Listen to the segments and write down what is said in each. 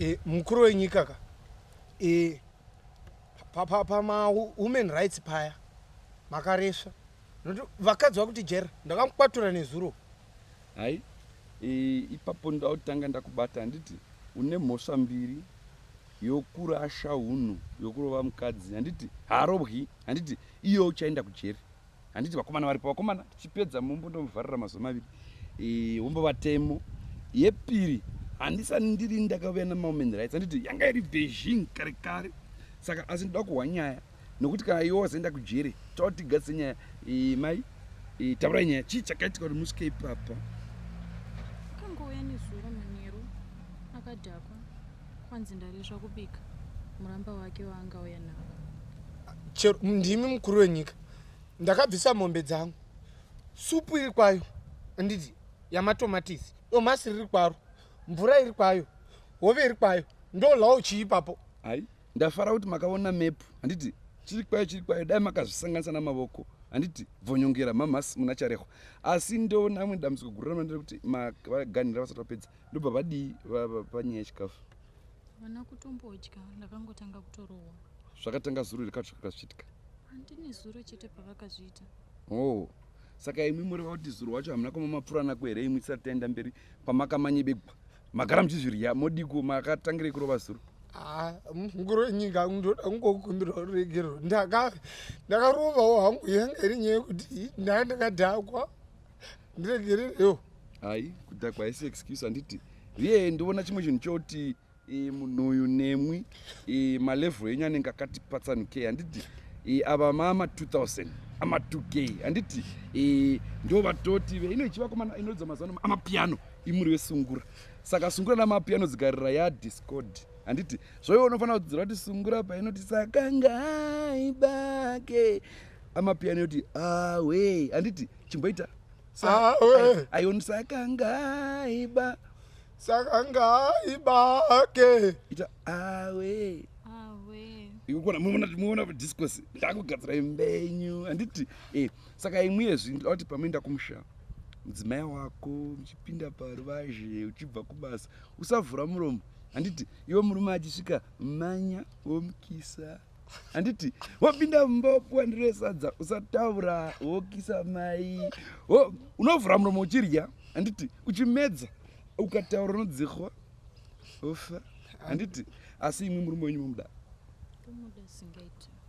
e, mukuru wenyika ka e, pamahuman rights paya makaresva vakadzi vakuti jera ndakamukwatura nezuro hai e, ipapo ndautanga ndakubata handiti une mhosva mbiri yokurasha hunhu yokurova mukadzi handiti haarobwi handiti iyo uchaenda kujeri handiti vakomana varipo vakomana tichipedza mumbo ndomuvharira mazuva maviri eh, umbo vatemo yepiri handisani ndiri ndakauya namaomen rights handiti yanga iri beijing kare kare saka asi ndoda kuhwa nyaya nokuti kana iwe wazoenda kujere tautigadzise nyaya eh, mai eh, taurai nyaya chii chakaitika kuti musvike ipapa akangouya nezuro manheru akadhakwa kwanzi ndaresva kubika muramba wake waangauya nawo chero ndimi mukuru wenyika ndakabvisa mombe dzangu supu iri kwayo anditi yamatomatisi domasi riri kwaro mvura iri kwayo hove iri kwayo ndolawo chii ipapo ai Ndafara kuti makaona map handiti chiri kwayo chiri kwayo dai makazvisanganisa namavoko handiti bvonyongera mamhas muna charehwa asi ndoona amwe dambudziko guru ramanira kuti vaganhira vasati vapedza ndobva vadii panyaya yechikafu vana kutombodya ndakangotanga kutorohwa zvakatanga zuro here katsva kakazviitika handine zuro chete pavakazviita oo oh, saka imwi mureva kuti zuro wacho hamuna kumamapfuranako here imwi tisati taenda mberi kwamakamanyebekwa magara muchizvirya modiko makatangirei kurova zuro ah, mukuru wenyika ndoda kungokumbira ruregerero ndakarovawo hangu yanga iri nyaya yekuti ndaa ndakadhakwa ndiregererewo hai kudhakwa haisi excuse handiti riyee ndoona chimwe chinhu choti e, munhu uyu nemwi e, malevel enyu anenge akati patsanukei handiti e, ava mama 2000 ama 2k handiti e, ndo vatoti veino ichivakomana inoridza mazano amapiano imuri vesungura saka sungura namapiano dzigarira ya discord handiti zvoiwo unofanira kudzira kuti sungura painoti sakangai bake amapiano yoti awe handiti chimboita awe ayonisakangaiba saka ngai bake ita awe ikukona muona discos ndakugadzira imbenyu handiti eh, saka imwe yezvi ndauti pamoenda kumusha mudzimai wako muchipinda paruvazhe uchibva kubasa usavhura muromo handiti iwe murume achisvika manya womukisa handiti wapinda mumba wapuwa ndiro yesadza usataura wokisa mai wo unovhura muromo uchirya handiti uchimedza ukataura unodzihwa ofa handiti asi imwe murume wenyu momuda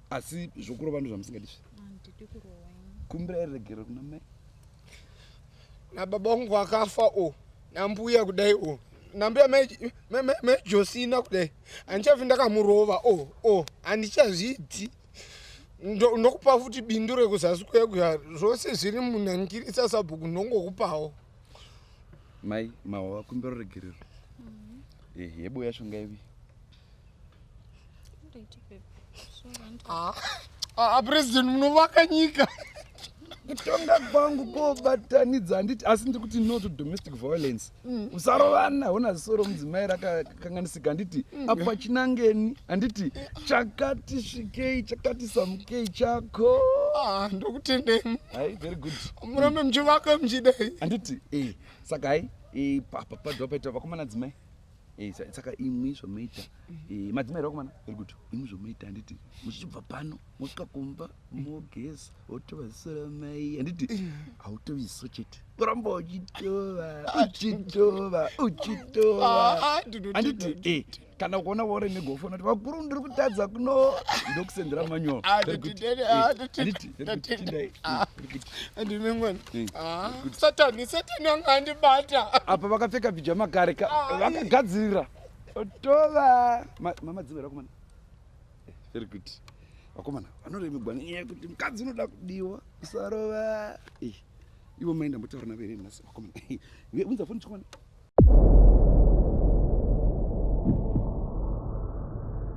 asi zvokurova ndo zvamusingadizve kumbira iregero kuna mai nababa wangu akafa o oh. nambuya kudai o oh. nambuya mejosina kudai handichafi ndakamurova o oh, o oh. handichazviti ndokupa futi bindu rekuzasi kwekuya zvose zviri munhangirisa sabhuku ndongokupawo mai mawa kumbiro regerero mm-hmm. eh, yebo yacho ngaivi Ah, ah, president munovaka nyika kutonga kwangu kobatanidza handiti asi ndiri kuti no to domestic violence mm. usarovana hona zisoro mudzimai rakakanganisika handiti mm. apa chinangeni handiti chakati svikei chakati samukei chako ah, ndokutendei hai very good murambe muchivaka muchidai handiti e saka hai e, papa padwa paita vakomana dzimai Eh, saka imwi zvomuita eh, madzimai rakomana iri kuti imwi zvomuita handiti muchibva pano mosvika kumba mogeza wotova ziso ramai handiti hautovi ziso chete kuramba uchitova uchitova uchitovahanditi ah, ah, eh, kana ukaona waure negofona kuti vakuru ndiri kutadza kuno ndokusendera manyoro handiti satani satani anga andibata apa vakapfeka pijama kare ka vakagadzirira tova mama dzivera kumana eh, very good vakomana vanoremegwa nenyaya yekuti mukadzi unoda kudiwa usarova eh, ivo maenda motaura navere nhasi vakomana eh, unza foni chikomana